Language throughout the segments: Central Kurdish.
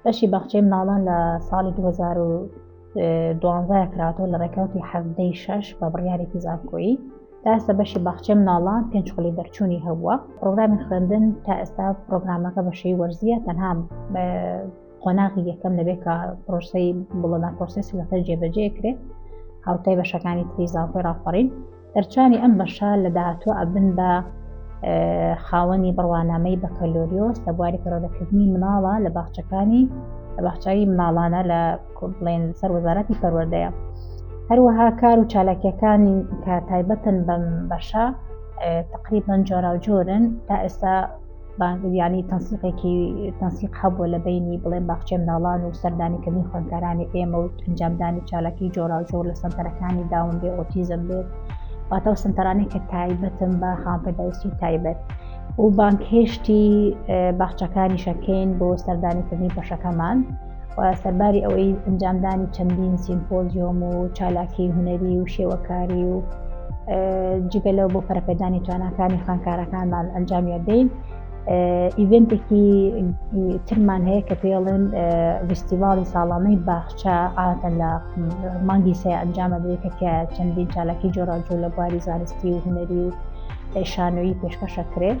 بەشی باخچەی مناڵان لە ساڵی 2012 کراتەوە لە ڕێکەوتی حەزدەی شەش بە بڕیارێکی زانکۆیی تا ئێستا بەشی باخچەی مناڵان پێنج خولی دەرچوونی هەبووە پرۆگرامی خوێندن تا ئێستا پرۆگرامەکە بەشەی وەرزیە تەنها قۆناغی یەکەم دەبێت کە پرۆسەی بڵەدا پرۆسسی لەسەر جێبەجێ کرێت هاوتای بەشەکانی تری زانکۆی ڕاپەڕین دەرچوانی ئەم بەشە لە داهاتۆ ئەبن بە خاوەنی بڕوانامەی بەکەلۆریۆس لە بواری پەرۆدەکردنی مناڵە لە باخچەکانی لە باخچوی مناڵانە لە بڵێن سەر وەزارەتی پەروەردەیە هەروەها کار و چالاکیەکانی کە تایبەتن بەم بەشە تقریبان جۆراوجۆرن تا ئێستا یانی تەنسیقێکی تەنسیق هەبوو لە بینی بڵێن باخچێ مناڵان و سەردانیکردنی خوێندکارانی ئێمە و ئەنجامدانی چالاکی جۆراوجۆر لە سەنتەرەکانی داون بێ ئۆتیزم بێت واتەوە سنتەرانی کە تایبەتم بە خانپەداویستی تایبەت و بانکهێشتی باخچەکانی شەکەین بۆ سەردانیکردنی بەشەکەمان و سەرباری ئەوەی ئەنجامدانی چەندین سیمپۆزیۆم و چالاکی هونەری و شێوەکاری و جگە لەو بۆ پەرپێدانی تواناکانی خوانکارەکانمان ئەنجامیدەین ئیڤنتێکی ترمان هەیە کە پێڵێن ویستیڤاڵی ساڵانەی باخچە ئاتە لە مانگی سێ ئەنجامە دەێتە کە چەندین چالاکی جۆراجۆ لە بواری زانستی و هونەری و شانۆیی پێشکەشەکرێت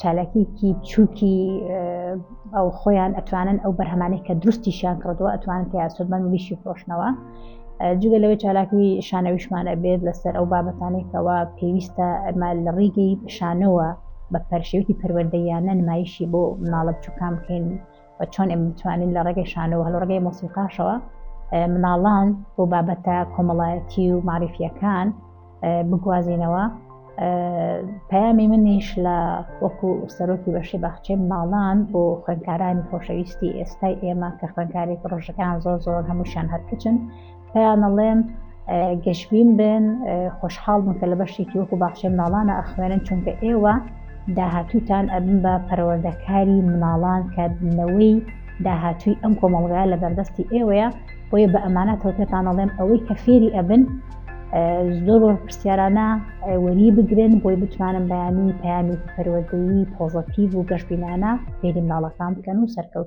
چالاکیکی چووکی ئەو خۆیان ئەتوانن ئەو بەرهەمانەی کە دروستیشیان کردووە ئەتوانن تیا سودمەند ویشی فرۆشنەوە جگە لەوەی چالاکی شانەویشمان ئەبێت لەسەر ئەو بابەتانێکەوە پێویستە ئەمە لە ڕیگەی شانەوە بە پەرشێوکی پەروەردەیانە نمایشی بۆ مناڵە بچووکان بکەین و چۆن ئێمە بتوانین لە ڕێگەی شانۆ و لە ڕێگەی مۆسیقاشەوە مناڵان بۆ بابەتە کۆمەڵایەتی و معریفیەکان بگوازینەوە پەیامی منیش لە وەکو سەرۆکی بەشی باخچێ ماڵان بۆ خوێندکارانی خۆشەویستی ئێستای ئێمە کە خوێندکاری پرۆژەکان زۆر زۆر هەمووشان هەرکچن پێیان ئەڵێم گەشبین بن، خۆشحاڵ بن کە لە بەشێکی وەکو باخچەی مناڵانە ئەخوێنن، چونکە ئێوە داهاتووتان ئەبن بە پەروەردەکاری مناڵان کە نەوەی داهاتووی ئەم کۆمەڵگایە لە بەردەستی ئێوەیە، بۆیە بە ئەمانەتەوە پێتان ئەڵێم ئەوەی کە فێری ئەبن زۆر وەرپرسیارانە وەری بگرن بۆی بتوانن بەیانی پەیامێکی پەروەردەیی پۆزەتیڤ و گەشبینانە فێری مناڵەکان بکەن و سەرکەوتن.